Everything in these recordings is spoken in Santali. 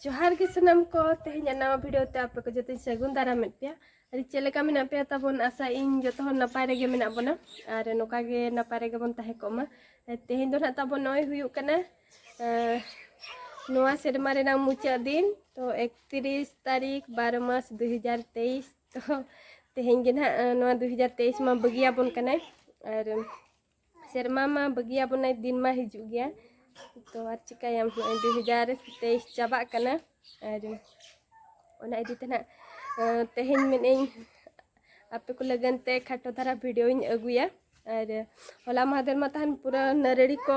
ᱡᱚᱦᱟᱨ ᱜᱮ ᱥᱟᱱᱟᱢ ᱠᱚ ᱛᱮᱦᱮᱧ ᱱᱟᱣᱟ ᱵᱷᱤᱰᱤᱭᱳ ᱛᱮ ᱟᱯᱮ ᱠᱚ ᱡᱚᱛᱚᱧ ᱥᱟᱹᱜᱩᱱ ᱫᱟᱨᱟᱢᱮᱫ ᱯᱮᱭᱟ ᱟᱨ ᱪᱮᱫ ᱞᱮᱠᱟ ᱢᱮᱱᱟᱜ ᱯᱮᱭᱟ ᱛᱟᱵᱚᱱ ᱟᱥᱟ ᱤᱧ ᱡᱚᱛᱚ ᱦᱚᱲ ᱱᱟᱯᱟᱭ ᱨᱮᱜᱮ ᱢᱮᱱᱟᱜ ᱵᱚᱱᱟ ᱟᱨ ᱱᱚᱝᱠᱟ ᱜᱮ ᱱᱟᱯᱟᱭ ᱨᱮᱜᱮ ᱵᱚᱱ ᱛᱟᱦᱮᱸ ᱠᱚᱜ ᱢᱟ ᱛᱮᱦᱮᱧ ᱫᱚ ᱱᱟᱜ ᱛᱟᱵᱚᱱ ᱱᱚᱜᱼᱚᱭ ᱦᱩᱭᱩᱜ ᱠᱟᱱᱟ ᱱᱚᱣᱟ ᱥᱮᱨᱢᱟ ᱨᱮᱱᱟᱜ ᱢᱩᱪᱟᱹᱫ ᱫᱤᱱ ᱛᱚ ᱮᱠᱛᱤᱨᱤᱥ ᱛᱟᱹᱨᱤᱠᱷ ᱵᱟᱨᱚ ᱢᱟᱥ ᱫᱩ ᱦᱟᱡᱟᱨ ᱛᱮᱭᱤᱥ ᱛᱚ ᱛᱮᱦᱮᱧ ᱜᱮ ᱱᱟᱜ ᱱᱚᱣᱟ ᱫᱩ ᱦᱟᱡᱟᱨ ᱛᱮᱭᱤᱥ ᱢᱟ ᱵᱟᱹᱜᱤᱭᱟᱵᱚᱱ ᱠᱟᱱᱟᱭ ᱟᱨ ᱥᱮᱨᱢᱟ ᱢᱟ ᱵᱟᱹᱜᱤᱭᱟ ᱵᱚᱱᱟᱭ ᱫᱤᱱ ᱢᱟ ᱦᱤᱡᱩᱜ ᱜᱮᱭᱟ ᱛᱚ ᱟᱨ ᱪᱤᱠᱟᱹᱭᱟᱢ ᱱᱚᱜᱼᱚᱭ ᱫᱩ ᱦᱟᱡᱟᱨ ᱛᱮᱭᱤᱥ ᱪᱟᱵᱟᱜ ᱠᱟᱱᱟ ᱟᱨ ᱚᱱᱟ ᱤᱫᱤ ᱛᱮ ᱱᱟᱜ ᱛᱮᱦᱮᱧ ᱢᱮᱱᱮᱫᱟᱹᱧ ᱟᱯᱮ ᱠᱚ ᱞᱟᱹᱜᱤᱫ ᱛᱮ ᱠᱷᱟᱴᱚ ᱫᱷᱟᱨᱟ ᱵᱷᱤᱰᱤᱭᱳᱧ ᱟᱹᱜᱩᱭᱟ ᱟᱨ ᱦᱚᱞᱟ ᱢᱟᱦᱫᱮᱨ ᱢᱟ ᱛᱟᱦᱮᱱ ᱯᱩᱨᱟᱹ ᱱᱟᱹᱨᱲᱤ ᱠᱚ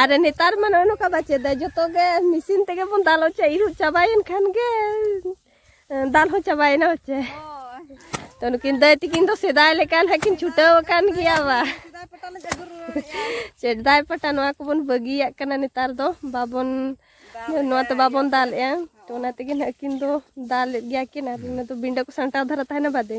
ᱟᱨ ᱱᱮᱛᱟᱨ ᱢᱟ ᱱᱚᱜᱼᱚ ᱱᱚᱝᱠᱟ ᱵᱟᱪᱮ ᱫᱟ ᱡᱚᱛᱚ ᱜᱮ ᱢᱮᱥᱤᱱ ᱛᱮᱜᱮ ᱵᱚᱱ ᱫᱟᱞ ᱦᱚᱪᱚ ᱤᱨᱩᱜ ᱪᱟᱵᱟᱭᱮᱱ ᱠᱷᱟᱱ ᱜᱮ ᱫᱟᱞ ᱦᱚᱸ ᱪᱟᱵᱟᱭᱮᱱᱟ ᱦᱚᱪᱮ ᱛᱚ ᱱᱩᱠᱤᱱ ᱫᱟᱹᱭ ᱛᱤᱠᱤᱱ ᱫᱚ ᱥᱮᱫᱟᱭ ᱞᱮᱠᱟ ᱱᱟᱦᱟᱜ ᱠᱤᱱ ᱪᱷᱩᱴᱟᱹᱣ ᱟᱠᱟᱱ ᱜᱮᱭᱟ ᱵᱟ ᱥᱮᱫᱟᱭ ᱯᱟᱴᱟ ᱱᱚᱣᱟ ᱠᱚᱵᱚᱱ ᱵᱟᱹᱜᱤᱭᱟᱜ ᱠᱟᱱᱟ ᱱᱮᱛᱟᱨ ᱫᱚ ᱵᱟᱵᱚᱱ ᱱᱚᱣᱟ ᱛᱮ ᱵᱟᱵᱚᱱ ᱫᱟᱞᱮᱜᱼᱟ ᱛᱚ ᱚᱱᱟ ᱛᱮᱜᱮ ᱱᱟᱦᱟᱜ ᱠᱤᱱ ᱫᱚ ᱫᱟᱞᱮᱫ ᱜᱮᱭᱟ ᱠᱤᱱ ᱟᱨ ᱚᱱᱟ ᱫᱚ ᱵᱤᱸᱰᱟᱹ ᱠᱚ ᱥᱟᱢᱴᱟᱣ ᱫᱷᱟᱨᱟ ᱛᱟᱦᱮᱱᱟ ᱵᱟᱫᱮ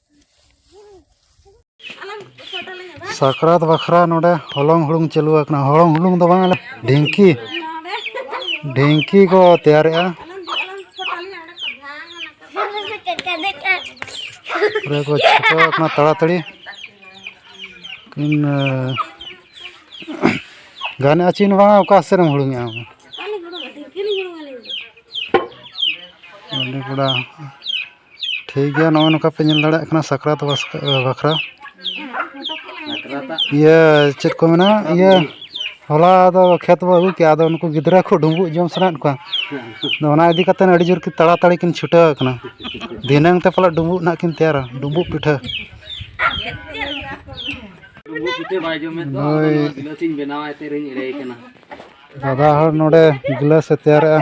ᱥᱟᱠᱨᱟᱛ ᱵᱟᱠᱷᱨᱟ ᱱᱚᱰᱮ ᱦᱚᱞᱚᱝ ᱦᱩᱲᱩᱝ ᱪᱟᱹᱞᱩ ᱟᱠᱟᱱᱟ ᱦᱚᱞᱚᱝ ᱦᱩᱲᱩᱝ ᱫᱚ ᱵᱟᱝ ᱟᱞᱮ ᱰᱷᱤᱝᱠᱤ ᱰᱷᱤᱝᱠᱤ ᱠᱚ ᱛᱮᱭᱟᱨᱮᱜᱼᱟ ᱯᱩᱨᱟᱹ ᱠᱚ ᱪᱷᱩᱴᱟᱹᱣ ᱟᱠᱟᱱᱟ ᱛᱟᱲᱟᱛᱟᱲᱤ ᱠᱤᱱ ᱜᱟᱱᱮᱜᱼᱟ ᱪᱤᱱ ᱵᱟᱝᱟ ᱚᱠᱟ ᱥᱮᱫ ᱮᱢ ᱦᱩᱲᱩᱝᱮᱜᱼᱟ ᱟᱢ ᱱᱚᱰᱮ ᱠᱚᱲᱟ ᱴᱷᱤᱠ ᱜᱮᱭᱟ ᱱᱚᱜᱼᱚᱸᱭ ᱱᱚᱝᱠᱟ ᱯᱮ ᱧᱮᱞ ᱫᱟᱲᱮᱭᱟᱜ ᱠᱟᱱᱟ ᱥᱟᱠᱨᱟᱛ ᱵᱟᱠᱷᱨᱟ ᱤᱭᱟᱹ ᱪᱮᱫ ᱠᱚ ᱢᱮᱱᱟ ᱤᱭᱟᱹ ᱦᱚᱞᱟ ᱫᱚ ᱠᱷᱮᱛ ᱵᱚᱱ ᱟᱹᱜᱩ ᱠᱮᱜᱼᱟ ᱟᱫᱚ ᱩᱱᱠᱩ ᱜᱤᱫᱽᱨᱟᱹ ᱠᱚ ᱰᱩᱢᱵᱩᱜ ᱡᱚᱢ ᱥᱟᱱᱟᱭᱮᱫ ᱠᱚᱣᱟ ᱟᱫᱚ ᱚᱱᱟ ᱤᱫᱤ ᱠᱟᱛᱮᱫ ᱟᱹᱰᱤ ᱡᱳᱨ ᱛᱟᱲᱟ ᱛᱟᱹᱲᱤ ᱠᱤᱱ ᱪᱷᱩᱴᱟᱹᱣ ᱠᱟᱱᱟ ᱫᱷᱤᱱᱟᱹᱝ ᱛᱮ ᱯᱟᱞᱮᱫ ᱰᱩᱢᱵᱩᱜ ᱦᱟᱸᱜ ᱠᱤᱱ ᱛᱮᱭᱟᱨᱟ ᱰᱩᱢᱵᱩᱜ ᱯᱤᱴᱷᱟᱹ ᱦᱳᱭ ᱫᱟᱫᱟ ᱦᱚᱲ ᱱᱚᱰᱮ ᱜᱤᱞᱟᱹᱥ ᱮ ᱛᱮᱭᱟᱨᱮᱜᱼᱟ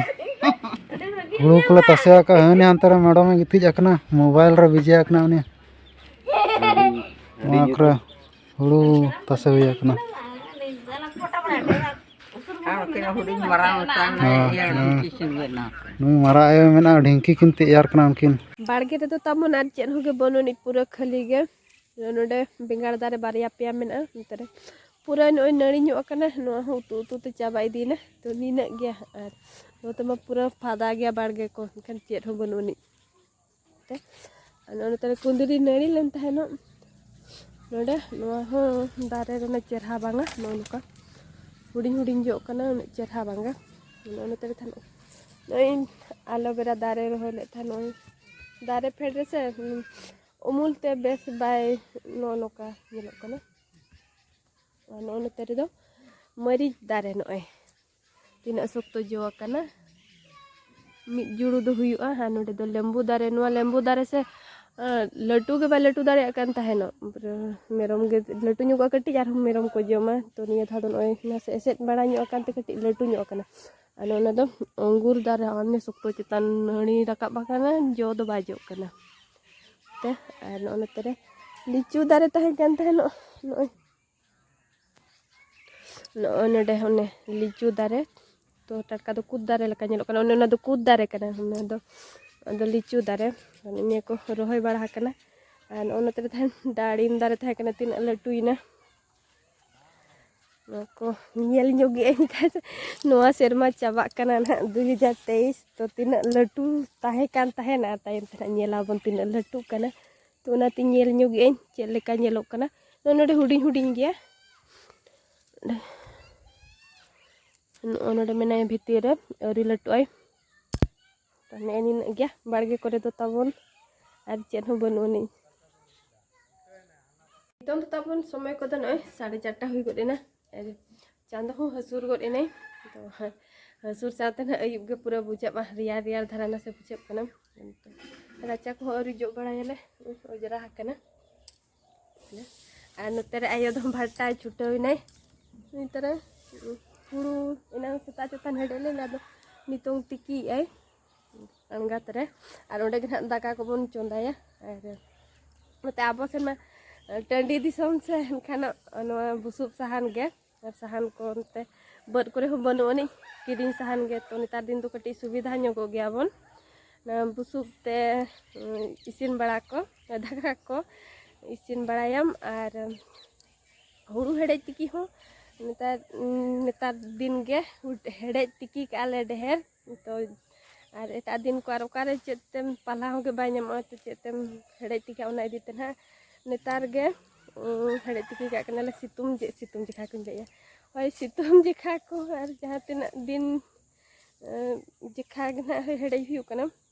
ᱦᱩᱲᱩ ᱠᱚᱞᱮ ᱛᱟᱥᱮ ᱟᱠᱟᱫᱼᱟ ᱦᱟᱹᱱᱤ ᱦᱟᱱᱛᱮ ᱨᱮ ᱢᱮᱰᱚᱢ ᱮ ᱜᱤᱛᱤᱡ ᱟᱠᱟᱱᱟ ᱢᱳᱵᱟᱭᱤᱞ ᱨᱮ ᱵᱤᱡᱤ ᱟᱠᱟᱱᱟ ᱩᱱᱤ ᱱᱚᱣᱟ ᱠᱚᱨᱮ ᱦᱩᱲᱩ ᱛᱟᱥᱮ ᱦᱩᱭ ᱟᱠᱟᱱᱟ ᱱᱩᱭ ᱢᱟᱨᱟᱜ ᱟᱭᱳ ᱢᱮᱱᱟᱜᱼᱟ ᱰᱷᱤᱝᱠᱤ ᱠᱤᱱ ᱛᱮᱭᱟᱨ ᱠᱟᱱᱟ ᱩᱱᱠᱤᱱ ᱵᱟᱲᱜᱮ ᱨᱮᱫᱚ ᱛᱟᱵᱚᱱ ᱟᱨ ᱪᱮᱫ ᱦᱚᱸᱜᱮ ᱵᱟᱹᱱᱩᱜ ᱟᱹᱱᱤᱡ ᱯᱩᱨᱟᱹ ᱠᱷᱟᱹᱞᱤ ᱜᱮ ᱱᱚᱰᱮ ᱵᱮᱸᱜᱟᱲ ᱫᱟᱨᱮ ᱵᱟᱨᱭᱟ ᱯᱮᱭᱟ ᱢᱮᱱᱟᱜᱼᱟ ᱱᱚᱛᱮ ᱨᱮ ᱯᱩᱨᱟᱹ ᱱᱚᱜᱼᱚᱭ ᱱᱟᱹᱲᱤ ᱧᱚᱜ ᱟᱠᱟᱱᱟ ᱱᱚᱣᱟ ᱦᱚᱸ ᱩᱛᱩ ᱩᱛᱩ ᱛᱮ ᱪᱟᱵᱟ ᱤᱫᱤᱭᱮᱱᱟ ᱛᱚ ᱱᱤᱱᱟᱹᱜ ᱜᱮᱭᱟ ᱟᱨ ᱱᱚᱛᱮ ᱢᱟ ᱯᱩᱨᱟᱹ ᱯᱷᱟᱫᱟ ᱜᱮᱭᱟ ᱵᱟᱲᱜᱮ ᱠᱚ ᱮᱱᱠᱷᱟᱱ ᱪᱮᱫ ᱦᱚᱸ ᱵᱟᱹᱱᱩᱜ ᱟᱹᱱᱤᱡ ᱛᱮ ᱟᱨ ᱱᱚᱛᱮ ᱨᱮ ᱠᱩᱸᱫᱽᱨᱤ ᱱᱟᱹᱲᱤ ᱞᱮᱱ ᱛᱟᱦᱮᱱᱚᱜ ᱱᱚᱰᱮ ᱱᱚᱣᱟ ᱦᱚᱸ ᱫᱟᱨᱮ ᱨᱮᱱᱟᱜ ᱪᱮᱨᱦᱟ ᱵᱟᱝᱟ ᱱᱚᱜᱼᱚ ᱱᱚᱝᱠᱟ ᱦᱩᱰᱤᱧ ᱦᱩᱰᱤᱧ ᱡᱚᱜ ᱠᱟᱱᱟ ᱩᱱᱟᱹᱜ ᱪᱮᱨᱦᱟ ᱵᱟᱝᱟ ᱱᱚᱜᱼᱚ ᱱᱚᱛᱮ ᱨᱮ ᱛᱟᱦᱮᱱᱚᱜ ᱱᱚᱜᱼᱚᱭ ᱟᱞᱳᱵᱮᱨᱟ ᱫᱟᱨᱮ ᱨᱚᱦᱚᱭ ᱞᱮᱫ ᱛᱟᱦᱮᱱ ᱱᱚᱜᱼᱚᱭ ᱫᱟᱨᱮ ᱯᱷᱮᱰ ᱨᱮᱥᱮ ᱩᱢᱩᱞ ᱛᱮ ᱵᱮᱥ ᱵᱟᱭ ᱱᱚᱜᱼᱚ ᱱᱚᱝᱠᱟ ᱧᱮᱞᱚᱜ ᱠᱟᱱᱟ ᱱᱚᱜᱼᱚ ᱱᱚᱛᱮ ᱨᱮᱫᱚ ᱢᱟᱹᱨᱤᱪ ᱫᱟᱨᱮ ᱱᱚᱜᱼᱚᱭ ᱛᱤᱱᱟᱹᱜ ᱥᱚᱠᱛᱚ ᱡᱚ ᱟᱠᱟᱱᱟ ᱢᱤᱫ ᱡᱩᱲᱩ ᱫᱚ ᱦᱩᱭᱩᱜᱼᱟ ᱟᱨ ᱱᱚᱰᱮ ᱫᱚ ᱞᱮᱢᱵᱩ ᱫᱟᱨᱮ ᱱᱚᱣᱟ ᱞᱮᱢᱵᱩ ᱫᱟᱨᱮ ᱥᱮ ᱞᱟᱹᱴᱩ ᱜᱮ ᱵᱟᱭ ᱞᱟᱹᱴᱩ ᱫᱟᱲᱮᱭᱟᱜ ᱠᱟᱱ ᱛᱟᱦᱮᱱᱚᱜ ᱢᱮᱨᱚᱢ ᱜᱮ ᱞᱟᱹᱴᱩ ᱧᱚᱜᱚᱜᱼᱟ ᱠᱟᱹᱴᱤᱡ ᱟᱨᱦᱚᱸ ᱢᱮᱨᱚᱢ ᱠᱚ ᱡᱚᱢᱟ ᱛᱚ ᱱᱤᱭᱟᱹ ᱫᱷᱟᱣ ᱫᱚ ᱱᱚᱜᱼᱚᱭ ᱱᱟᱥᱮ ᱮᱥᱮᱫ ᱵᱟᱲᱟ ᱧᱚᱜ ᱟᱠᱟᱱᱛᱮ ᱠᱟᱹᱴᱤᱡ ᱞᱟᱹᱴᱩ ᱧᱚᱜ ᱟᱠᱟᱱᱟ ᱟᱨ ᱚᱱᱟ ᱫᱚ ᱟᱺᱜᱩᱨ ᱫᱟᱨᱮ ᱦᱚᱸ ᱥᱚᱠᱛᱚ ᱪᱮᱛᱟᱱ ᱱᱟᱹᱲᱤ ᱨᱟᱠᱟᱵ ᱟᱠᱟᱱᱟ ᱡᱚ ᱫᱚ ᱵᱟᱭ ᱡᱚᱜ ᱠᱟᱱᱟ ᱛᱮ ᱟᱨ ᱱᱚᱜᱼᱚ ᱱᱚᱛᱮ ᱨᱮ ᱞᱤᱪᱩ ᱫᱟᱨᱮ ᱛᱟᱦᱮᱸ ᱠᱟᱱ ᱛᱟᱦᱮᱱᱚᱜ ᱱᱚᱜᱼᱚᱭ ᱱᱚᱜᱼᱚᱭ ᱱᱚᱰᱮ ᱚᱱᱮ ᱞᱤᱪᱩ ᱫᱟᱨᱮ ᱛᱚ ᱴᱟᱴᱠᱟ ᱫᱚ ᱠᱩᱫ ᱫᱟᱨᱮ ᱞᱮᱠᱟ ᱧᱮᱞᱚᱜ ᱠᱟᱱᱟ ᱚᱱᱮ ᱚᱱᱟ ᱫᱚ ᱠᱩᱫ ᱫᱟᱨᱮ ᱠᱟᱱᱟ ᱚᱱᱟ ᱫᱚ ᱟᱫᱚ ᱞᱤᱪᱩ ᱫᱟᱨᱮ ᱱᱤᱭᱟᱹ ᱠᱚ ᱨᱚᱦᱚᱭ ᱵᱟᱲᱟ ᱟᱠᱟᱱᱟ ᱟᱨ ᱱᱚᱜᱼᱚ ᱱᱚᱛᱮ ᱨᱮ ᱛᱟᱦᱮᱱ ᱰᱟᱲᱤᱢ ᱫᱟᱨᱮ ᱛᱟᱦᱮᱸ ᱠᱟᱱᱟ ᱛᱤᱱᱟᱹᱜ ᱞᱟᱹᱴᱩᱭᱮᱱᱟ ᱱᱚᱣᱟ ᱠᱚ ᱧᱮᱞ ᱧᱚᱜ ᱜᱮ ᱟᱹᱧ ᱠᱷᱟᱱ ᱱᱚᱣᱟ ᱥᱮᱨᱢᱟ ᱪᱟᱵᱟᱜ ᱠᱟᱱᱟ ᱱᱟᱦᱟᱜ ᱫᱩ ᱦᱟᱡᱟᱨ ᱛᱮᱭᱤᱥ ᱛᱚ ᱛᱤᱱᱟᱹᱜ ᱞᱟᱹᱴᱩ ᱛᱟᱦᱮᱸ ᱠᱟᱱ ᱛᱟᱦᱮᱱᱟ ᱛᱟᱭᱚᱢ ᱛᱮ ᱱᱟᱦᱟᱜ ᱧᱮᱞ ᱟᱵᱚᱱ ᱛᱤᱱᱟᱹᱜ ᱞᱟᱹᱴᱩᱜ ᱠᱟᱱᱟ ᱛᱚ ᱚᱱᱟᱛᱮ ᱧᱮᱞ ᱧᱚᱜ ᱜᱮ ᱟᱹᱧ ᱪᱮᱫ ᱞᱮᱠᱟ ᱧᱮᱞᱚᱜ ᱠᱟᱱᱟ ᱛᱚ ᱱᱚᱰᱮ ᱦᱩᱰᱤᱧ ᱦᱩᱰᱤᱧ ᱜᱮᱭᱟ ᱱᱚᱜᱼᱚ ᱱᱚᱰᱮ ᱢᱮᱱᱟᱭᱟ ᱵᱷᱤᱛᱤᱨ ᱨᱮ ᱟᱹᱣᱨᱤ ᱞᱟᱹᱴᱩᱜ ᱟᱭ ᱛᱚ ᱱᱮᱜᱼᱮ ᱱᱤᱱᱟᱹᱜ ᱜᱮᱭᱟ ᱵᱟᱲᱜᱮ ᱠᱚᱨᱮ ᱫᱚ ᱛᱟᱵᱚᱱ ᱟᱨ ᱪᱮᱫ ᱦᱚᱸ ᱵᱟᱹᱱᱩᱜ ᱟᱹᱱᱤᱡ ᱱᱤᱛᱚᱝ ᱫᱚ ᱛᱟᱵᱚᱱ ᱥᱚᱢᱚᱭ ᱠᱚᱫᱚ ᱱᱚᱜᱼᱚᱭ ᱥᱟᱲᱮ ᱪᱟᱨᱴᱟ ᱦᱩᱭ ᱜᱚᱫ ᱮᱱᱟ ᱟᱨ ᱪᱟᱸᱫᱚ ᱦᱚᱸ ᱦᱟᱹᱥᱩᱨ ᱜᱚᱫ ᱮᱱᱟᱭ ᱛᱚ ᱦᱟᱹᱥᱩᱨ ᱥᱟᱶᱛᱮ ᱱᱟᱜ ᱟᱹᱭᱩᱵ ᱜᱮ ᱯᱩᱨᱟᱹ ᱵᱩᱡᱷᱟᱹᱜᱼᱟ ᱨᱮᱭᱟᱲ ᱨᱮᱭᱟᱲ ᱫᱷᱟᱨᱟ ᱱᱟᱥᱮ ᱵᱩᱡᱷᱟᱹᱜ ᱠᱟᱱᱟ ᱨᱟᱪᱟ ᱠᱚᱦᱚᱸ ᱟᱹᱣᱨᱤ ᱡᱚᱜ ᱵᱟᱲᱟᱭᱟᱞᱮ ᱚᱡᱽᱨᱟ ᱟᱠᱟᱱᱟ ᱟᱨ ᱱᱚᱛᱮ ᱨᱮ ᱟᱭᱳ ᱫᱚ ᱵᱷᱟᱴᱟᱭ ᱪᱷᱩᱴᱟᱹᱣ ᱮᱱᱟᱭ ᱱᱚᱛᱮ ᱨᱮ ᱦᱩᱲᱩ ᱮᱱᱟᱝ ᱥᱮᱛᱟᱜ ᱪᱮᱛᱟᱱ ᱦᱮᱰᱮᱡ ᱞᱮᱱᱟ ᱟᱫᱚ ᱱᱤᱛᱚᱝ ᱛᱤᱠᱤᱭᱮᱜᱼᱟᱭ ᱟᱬᱜᱟᱛ ᱨᱮ ᱟᱨ ᱚᱸᱰᱮ ᱜᱮ ᱱᱟᱦᱟᱜ ᱫᱟᱠᱟ ᱠᱚᱵᱚᱱ ᱪᱚᱸᱫᱟᱭᱟ ᱟᱨ ᱱᱚᱛᱮ ᱟᱵᱚ ᱥᱮᱱ ᱢᱟ ᱴᱟᱺᱰᱤ ᱫᱤᱥᱚᱢ ᱥᱮ ᱮᱱᱠᱷᱟᱱ ᱱᱚᱣᱟ ᱵᱩᱥᱩᱵ ᱥᱟᱦᱟᱱ ᱜᱮ ᱟᱨ ᱥᱟᱦᱟᱱ ᱠᱚ ᱚᱱᱛᱮ ᱵᱟᱹᱫᱽ ᱠᱚᱨᱮ ᱦᱚᱸ ᱵᱟᱹᱱᱩᱜ ᱟᱹᱱᱤᱡ ᱠᱤᱨᱤᱧ ᱥᱟᱦᱟᱱ ᱜᱮ ᱛᱚ ᱱᱮᱛᱟᱨ ᱫᱤᱱ ᱫᱚ ᱠᱟᱹᱴᱤᱡ ᱥᱩᱵᱤᱫᱷᱟ ᱧᱚᱜᱚᱜ ᱜᱮᱭᱟ ᱵᱚᱱ ᱵᱩᱥᱩᱵ ᱛᱮ ᱤᱥᱤᱱ ᱵᱟᱲᱟ ᱠᱚ ᱫᱟᱠᱟ ᱠᱚ ᱤᱥᱤᱱ ᱵᱟᱲᱟᱭᱟᱢ ᱟᱨ ᱦᱩᱲᱩ ᱦᱮᱰᱮᱡ ᱛᱤᱠᱤ ᱦᱚᱸ ᱱᱮᱛᱟᱨ ᱱᱮᱛᱟᱨ ᱫᱤᱱ ᱜᱮ ᱦᱮᱰᱮᱡ ᱛᱤᱠᱤ ᱠᱟᱜᱼᱟ ᱞᱮ ᱰᱷᱮᱨ ᱛᱚ ᱟᱨ ᱮᱴᱟᱜ ᱫᱤᱱ ᱠᱚ ᱟᱨ ᱚᱠᱟᱨᱮ ᱪᱮᱫ ᱛᱮᱢ ᱯᱟᱞᱦᱟ ᱦᱚᱸᱜᱮ ᱵᱟᱭ ᱧᱟᱢᱚᱜᱼᱟ ᱛᱚ ᱪᱮᱫ ᱛᱮᱢ ᱦᱮᱲᱦᱮᱫ ᱛᱤᱠᱤ ᱚᱱᱟ ᱤᱫᱤ ᱛᱮ ᱱᱟᱦᱟᱜ ᱱᱮᱛᱟᱨ ᱜᱮ ᱦᱮᱲᱦᱮᱫ ᱛᱤᱠᱤ ᱠᱟᱜ ᱠᱟᱱᱟᱞᱮ ᱥᱤᱛᱩᱝ ᱥᱤᱛᱩᱝ ᱡᱮᱠᱷᱟ ᱠᱚᱧ ᱞᱟᱹᱭᱮᱜᱼᱟ ᱦᱳᱭ ᱥᱤᱛᱩᱝ ᱡᱮᱠᱷᱟ ᱠᱚ ᱟᱨ ᱡᱟᱦᱟᱸ ᱛᱤᱱᱟᱹᱜ ᱫᱤᱱ ᱡᱮᱠᱷᱟ ᱜᱮ ᱱᱟᱦᱟᱜ ᱦᱮᱲᱦᱮᱫ ᱦᱩᱭᱩᱜ ᱠᱟᱱᱟ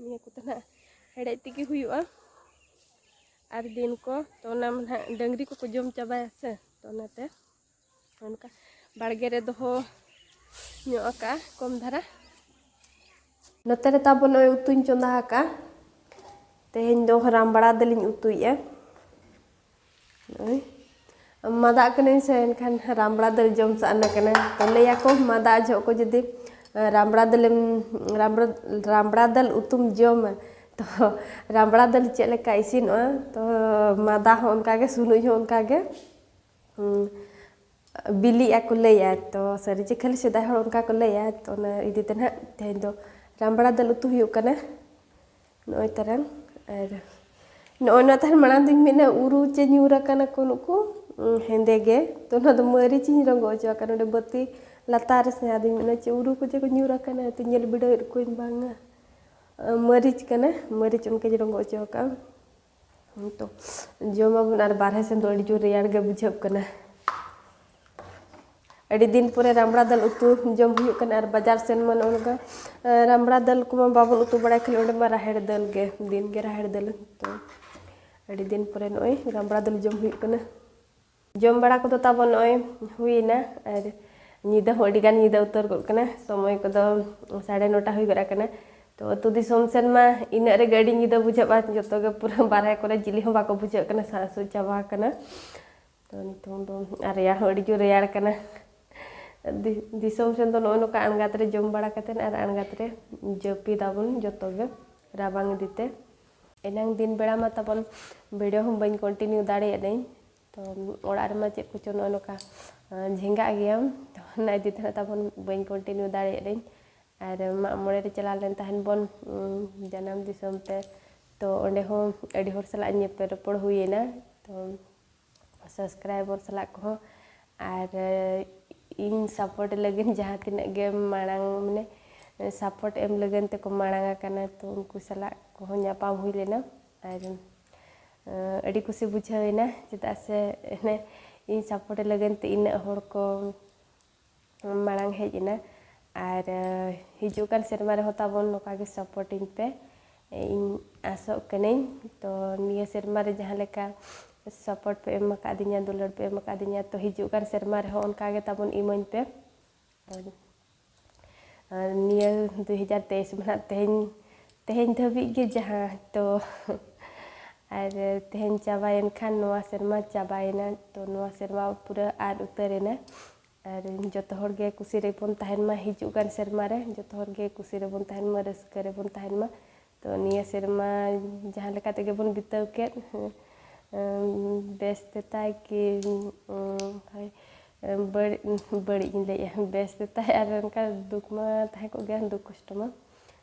ᱱᱤᱭᱟᱹ ᱠᱚᱫᱚ ᱱᱟᱦᱟᱜ ᱦᱮᱲᱮᱡ ᱛᱮᱜᱮ ᱦᱩᱭᱩᱜᱼᱟ ᱟᱨ ᱫᱤᱱ ᱠᱚ ᱛᱚ ᱚᱱᱟ ᱢᱟ ᱱᱟᱦᱟᱜ ᱰᱟᱹᱝᱨᱤ ᱠᱚᱠᱚ ᱡᱚᱢ ᱪᱟᱵᱟᱭᱟ ᱥᱮ ᱛᱚ ᱚᱱᱟᱛᱮ ᱚᱱᱠᱟ ᱵᱟᱲᱜᱮ ᱨᱮ ᱫᱚᱦᱚ ᱧᱚᱜ ᱟᱠᱟᱜᱼᱟ ᱠᱚᱢ ᱫᱷᱟᱨᱟ ᱱᱚᱛᱮ ᱨᱮ ᱛᱟᱵᱚ ᱱᱚᱜᱼᱚᱭ ᱩᱛᱩᱧ ᱪᱚᱸᱫᱟ ᱟᱠᱟᱜᱼᱟ ᱛᱮᱦᱮᱧ ᱫᱚ ᱨᱟᱢᱵᱲᱟ ᱫᱟᱹᱞᱤᱧ ᱩᱛᱩᱭᱮᱜᱼᱟ ᱱᱚᱜᱼᱚᱭ ᱢᱟᱫᱟᱜ ᱠᱟᱹᱱᱟᱹᱧ ᱥᱮ ᱮᱱᱠᱷᱟᱱ ᱨᱟᱢᱵᱲᱟ ᱫᱟᱹᱞ ᱡᱚᱢ ᱥᱟᱱᱟ ᱠᱟᱱᱟ ᱛᱚ ᱞᱟᱹᱭᱟᱠᱚ ᱢᱟᱫᱟᱜ ᱡᱚᱦᱚᱜ ᱠᱚ ᱡᱩᱫᱤ ᱨᱟᱢᱵᱲᱟ ᱫᱟᱹᱞᱮᱢ ᱨᱟᱢᱵᱲᱟ ᱨᱟᱢᱵᱲᱟ ᱫᱟᱹᱞ ᱩᱛᱩᱢ ᱡᱚᱢᱟ ᱛᱚ ᱨᱟᱢᱵᱲᱟ ᱫᱟᱹᱞ ᱪᱮᱫ ᱞᱮᱠᱟ ᱤᱥᱤᱱᱚᱜᱼᱟ ᱛᱚ ᱢᱟᱫᱟ ᱦᱚᱸ ᱚᱱᱠᱟ ᱜᱮ ᱥᱩᱱᱩᱡ ᱦᱚᱸ ᱚᱱᱠᱟ ᱜᱮ ᱵᱤᱞᱤᱜᱼᱟ ᱠᱚ ᱞᱟᱹᱭᱟ ᱛᱚ ᱥᱟᱹᱨᱤ ᱪᱮ ᱠᱷᱟᱹᱞᱤ ᱥᱮᱫᱟᱭ ᱦᱚᱲ ᱚᱱᱠᱟ ᱠᱚ ᱞᱟᱹᱭᱟ ᱛᱚ ᱚᱱᱟ ᱤᱫᱤ ᱛᱮ ᱱᱟᱦᱟᱜ ᱛᱮᱦᱮᱧ ᱫᱚ ᱨᱟᱢᱵᱲᱟ ᱫᱟᱹᱞ ᱩᱛᱩ ᱦᱩᱭᱩᱜ ᱠᱟᱱᱟ ᱱᱚᱜᱼᱚᱭ ᱛᱟᱨᱟᱝ ᱟᱨ ᱱᱚᱜᱼᱚᱭ ᱱᱚᱣᱟ ᱛᱟᱦᱮᱱ ᱢᱟᱲᱟᱝ ᱫᱚᱧ ᱢᱮᱱᱟ ᱩᱨᱩ ᱪᱮ ᱧᱩᱨ ᱟᱠᱟᱱᱟ ᱠᱚ ᱱᱩᱠᱩ ᱦᱮᱸᱫᱮ ᱜᱮ ᱛᱚ ᱱᱚᱣᱟ ᱫᱚ ᱢᱟᱹᱨᱤᱪ ᱤᱧ ᱨᱚᱸᱜᱚ ᱦᱚᱪᱚ ᱟᱠᱟᱱᱟ ᱱᱚᱰᱮ ᱵᱟᱹᱛᱤ ᱞᱟᱛᱟᱨ ᱨᱮ ᱥᱮ ᱟᱫᱚᱧ ᱢᱮᱱᱟ ᱪᱮ ᱩᱨᱩ ᱠᱚ ᱪᱮ ᱠᱚ ᱧᱩᱨ ᱟᱠᱟᱱᱟ ᱛᱚ ᱧᱮᱞ ᱵᱤᱰᱟᱹᱣᱮᱫ ᱠᱚᱣᱟᱹᱧ ᱵᱟᱝᱟ ᱢᱟᱹᱨᱤᱪ ᱠᱟᱱᱟ ᱢᱟᱹᱨᱤᱪ ᱚᱱᱠᱟᱧ ᱨᱚᱸᱜᱚ ᱦᱚᱪᱚ ᱟᱠᱟᱫᱼᱟ ᱛᱚ ᱡᱚᱢᱟᱵᱚᱱ ᱟᱨ ᱵᱟᱨᱦᱮ ᱥᱮᱱ ᱫᱚ ᱟᱹᱰᱤ ᱡᱳᱨ ᱨᱮᱭᱟᱲ ᱜᱮ ᱵᱩᱡᱷᱟᱹᱜ ᱠᱟᱱᱟ ᱟᱹᱰᱤ ᱫᱤᱱ ᱯᱚᱨᱮ ᱨᱟᱢᱲᱟ ᱫᱟᱹᱞ ᱩᱛᱩ ᱡᱚᱢ ᱦᱩᱭᱩᱜ ᱠᱟᱱᱟ ᱟᱨ ᱵᱟᱡᱟᱨ ᱥᱮᱱ ᱢᱟ ᱱᱚᱜᱼᱚ ᱱᱚᱝᱠᱟ ᱨᱟᱢᱲᱟ ᱫᱟᱹᱞ ᱠᱚᱢᱟ ᱵᱟᱵᱚᱱ ᱩᱛᱩ ᱵᱟᱲᱟᱭ ᱠᱷᱟᱹᱞᱤ ᱚᱸᱰᱮ ᱢᱟ ᱨᱟᱦᱮᱲ ᱫᱟᱹᱞ ᱜᱮ ᱫᱤᱱ ᱜᱮ ᱨᱟᱦᱮᱲ ᱫᱟᱹᱞ ᱛᱚ ᱟᱹᱰᱤ ᱫᱤᱱ ᱯᱚᱨᱮ ᱱᱚᱜᱼᱚᱭ ᱨᱟᱢᱲᱟ ᱫᱟᱹᱞ ᱡᱚᱢ ᱦᱩᱭᱩᱜ ᱠᱟᱱᱟ ᱡᱚᱢ ᱵᱟᱲᱟ ᱠᱚᱫᱚ ᱛᱟᱵᱚᱱ ᱱᱚᱜᱼᱚᱭ ᱦᱩᱭᱮᱱᱟ ᱟᱨ ᱧᱤᱫᱟᱹ ᱦᱚᱸ ᱟᱹᱰᱤ ᱜᱟᱱ ᱧᱤᱫᱟᱹ ᱩᱛᱟᱹᱨ ᱜᱚᱫ ᱠᱟᱱᱟ ᱥᱚᱢᱚᱭ ᱠᱚᱫᱚ ᱥᱟᱲᱮ ᱱᱚᱴᱟ ᱦᱩᱭ ᱜᱚᱫ ᱟᱠᱟᱱᱟ ᱛᱚ ᱟᱹᱛᱩ ᱫᱤᱥᱚᱢ ᱥᱮᱱ ᱢᱟ ᱤᱱᱟᱹᱜ ᱨᱮᱜᱮ ᱟᱹᱰᱤ ᱧᱤᱫᱟᱹ ᱵᱩᱡᱷᱟᱹᱜᱼᱟ ᱡᱚᱛᱚ ᱜᱮ ᱯᱩᱨᱟᱹ ᱵᱟᱨᱦᱮ ᱠᱚᱨᱮ ᱡᱤᱞᱤ ᱦᱚᱸ ᱵᱟᱠᱚ ᱵᱩᱡᱷᱟᱹᱜ ᱠᱟᱱᱟ ᱥᱟᱜ ᱥᱩᱜ ᱪᱟᱵᱟ ᱟᱠᱟᱱᱟ ᱛᱚ ᱱᱤᱛᱚᱝ ᱫᱚ ᱟᱨ ᱨᱮᱭᱟᱲ ᱦᱚᱸ ᱟᱹᱰᱤ ᱡᱳᱨ ᱨᱮᱭᱟᱲ ᱠᱟᱱᱟ ᱫᱤᱥᱚᱢ ᱥᱮᱱ ᱫᱚ ᱱᱚᱜᱼᱚᱭ ᱱᱚᱝᱠᱟ ᱟᱬᱜᱟᱛ ᱨᱮ ᱡᱚᱢ ᱵᱟᱲᱟ ᱠᱟᱛᱮᱫ ᱟᱨ ᱟᱬᱜᱟᱛ ᱨᱮ ᱡᱟᱹᱯᱤᱫᱟᱵᱚᱱ ᱡᱚᱛᱚ ᱜᱮ ᱨᱟᱵᱟᱝ ᱤᱫᱤᱛᱮ ᱮᱱᱟᱝ ᱫᱤᱱ ᱵᱮᱲᱟ ᱢᱟ ᱛᱟᱵᱚᱱ ᱵᱷᱤᱰᱤᱭᱳ ᱦᱚᱸ ᱵᱟᱹᱧ ᱠᱚᱱᱴᱤᱱᱤᱭᱩ ᱫᱟᱲᱮᱭᱟᱫᱟᱹᱧ ᱛᱚ ᱚᱲᱟᱜ ᱨᱮᱢᱟ ᱪᱮᱫ ᱠᱚᱪᱚ ᱱᱚᱜᱼᱚ ᱱᱚᱝᱠᱟ ᱡᱷᱮᱸᱜᱟᱜ ᱜᱮᱭᱟᱢ ᱛᱚ ᱚᱱᱟ ᱤᱫᱤ ᱛᱮ ᱛᱟᱵᱚᱱ ᱵᱟᱹᱧ ᱠᱚᱱᱴᱤᱱᱤᱭᱩ ᱫᱟᱲᱮᱭᱟᱫᱟᱹᱧ ᱟᱨ ᱢᱟᱜ ᱢᱚᱬᱮ ᱨᱮ ᱪᱟᱞᱟᱣ ᱞᱮᱱ ᱛᱟᱦᱮᱱ ᱵᱚᱱ ᱡᱟᱱᱟᱢ ᱫᱤᱥᱚᱢ ᱛᱮ ᱛᱚ ᱚᱸᱰᱮ ᱦᱚᱸ ᱟᱹᱰᱤ ᱦᱚᱲ ᱥᱟᱞᱟᱜ ᱧᱮᱯᱮᱞ ᱨᱚᱯᱚᱲ ᱦᱩᱭᱮᱱᱟ ᱛᱚ ᱥᱟᱵᱥᱠᱨᱟᱭᱵᱚᱨ ᱥᱟᱞᱟᱜ ᱠᱚᱦᱚᱸ ᱟᱨ ᱤᱧ ᱥᱟᱯᱳᱨᱴ ᱞᱟᱹᱜᱤᱫ ᱡᱟᱦᱟᱸ ᱛᱤᱱᱟᱹᱜ ᱜᱮ ᱢᱟᱲᱟᱝ ᱢᱟᱱᱮ ᱥᱟᱯᱳᱨᱴ ᱮᱢ ᱞᱟᱹᱜᱤᱫ ᱛᱮᱠᱚ ᱢᱟᱲᱟᱝ ᱟᱠᱟᱱᱟ ᱛᱚ ᱩᱱᱠᱩ ᱥᱟᱞᱟᱜ ᱠᱚᱦᱚᱸ ᱧᱟᱯᱟᱢ ᱦᱩᱭ ᱞᱮᱱᱟ ᱟᱨ ᱟᱹᱰᱤ ᱠᱩᱥᱤ ᱵᱩᱡᱷᱟᱹᱣᱮᱱᱟ ᱪᱮᱫᱟᱜ ᱥᱮ ᱤᱧ ᱥᱟᱯᱳᱨᱴ ᱞᱟᱹᱜᱤᱫ ᱛᱮ ᱤᱱᱟᱹᱜ ᱦᱚᱲ ᱠᱚ ᱢᱟᱲᱟᱝ ᱦᱮᱡ ᱮᱱᱟ ᱟᱨ ᱦᱤᱡᱩᱜ ᱠᱟᱱ ᱥᱮᱨᱢᱟ ᱨᱮᱦᱚᱸ ᱛᱟᱵᱚᱱ ᱱᱚᱝᱠᱟ ᱜᱮ ᱥᱟᱯᱳᱨᱴ ᱤᱧ ᱯᱮ ᱤᱧ ᱟᱥᱚᱜ ᱠᱟᱹᱱᱟᱹᱧ ᱛᱚ ᱱᱤᱭᱟᱹ ᱥᱮᱨᱢᱟ ᱨᱮ ᱡᱟᱦᱟᱸ ᱞᱮᱠᱟ ᱥᱟᱯᱳᱨᱴ ᱯᱮ ᱮᱢ ᱟᱠᱟᱫᱤᱧᱟ ᱫᱩᱞᱟᱹᱲ ᱯᱮ ᱮᱢ ᱟᱠᱟᱫᱤᱧᱟ ᱛᱚ ᱦᱤᱡᱩᱜ ᱠᱟᱱ ᱥᱮᱨᱢᱟ ᱨᱮᱦᱚᱸ ᱚᱱᱠᱟ ᱜᱮ ᱛᱟᱵᱚᱱ ᱤᱢᱟᱹᱧ ᱯᱮ ᱱᱤᱭᱟᱹ ᱫᱩ ᱦᱟᱡᱟᱨ ᱛᱮᱭᱤᱥ ᱢᱟ ᱱᱟᱦᱟᱜ ᱛᱮᱦᱮᱧ ᱛᱮᱦᱮᱧ ᱫᱷᱟᱹᱵᱤᱡ ᱜᱮ ᱡᱟᱦᱟᱸ ᱛᱚ ᱟᱨ ᱛᱮᱦᱮᱧ ᱪᱟᱵᱟᱭᱮᱱ ᱠᱷᱟᱱ ᱱᱚᱣᱟ ᱥᱮᱨᱢᱟ ᱪᱟᱵᱟᱭᱮᱱᱟ ᱛᱚ ᱱᱚᱣᱟ ᱥᱮᱨᱢᱟ ᱯᱩᱨᱟᱹ ᱟᱫ ᱩᱛᱟᱹᱨᱮᱱᱟ ᱟᱨ ᱡᱚᱛᱚ ᱦᱚᱲ ᱜᱮ ᱠᱩᱥᱤ ᱨᱮᱵᱚᱱ ᱛᱟᱦᱮᱱ ᱢᱟ ᱦᱤᱡᱩᱜ ᱠᱟᱱ ᱥᱮᱨᱢᱟ ᱨᱮ ᱡᱚᱛᱚ ᱦᱚᱲ ᱜᱮ ᱠᱩᱥᱤ ᱨᱮᱵᱚᱱ ᱛᱟᱦᱮᱱ ᱢᱟ ᱨᱟᱹᱥᱠᱟᱹ ᱨᱮᱵᱚᱱ ᱛᱟᱦᱮᱱ ᱢᱟ ᱛᱚ ᱱᱤᱭᱟᱹ ᱥᱮᱨᱢᱟ ᱡᱟᱦᱟᱸ ᱞᱮᱠᱟ ᱛᱮᱜᱮ ᱵᱚᱱ ᱵᱤᱛᱟᱹᱣ ᱠᱮᱫ ᱵᱮᱥ ᱛᱮᱛᱟᱭ ᱠᱤ ᱵᱟᱹᱲᱤᱡ ᱵᱟᱹᱲᱤᱡ ᱤᱧ ᱞᱟᱹᱭᱮᱜᱼᱟ ᱵᱮᱥ ᱛᱮᱛᱟᱭ ᱟᱨ ᱚᱱᱠᱟ ᱫᱩᱠ ᱢᱟ ᱛᱟᱦᱮᱸ ᱠᱚᱜ ᱜᱮᱭᱟ ᱫᱩᱠ ᱠᱚᱥᱴᱚ ᱢᱟ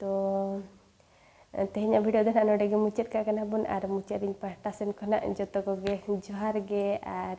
ᱛᱚ ᱛᱮᱦᱮᱧᱟᱜ ᱵᱷᱤᱰᱤᱭᱳ ᱫᱚ ᱱᱟᱦᱟᱜ ᱱᱚᱰᱮ ᱜᱮ ᱢᱩᱪᱟᱹᱫ ᱠᱟᱜ ᱠᱟᱱᱟ ᱵᱚᱱ ᱟᱨ ᱢᱩᱪᱟᱹᱫ ᱨᱤᱧ ᱯᱟᱦᱴᱟ ᱥᱮᱱ ᱠᱷᱚᱱᱟᱜ ᱡᱚᱛᱚ ᱠᱚᱜᱮ ᱡᱚᱦᱟᱨ ᱜᱮ ᱟᱨ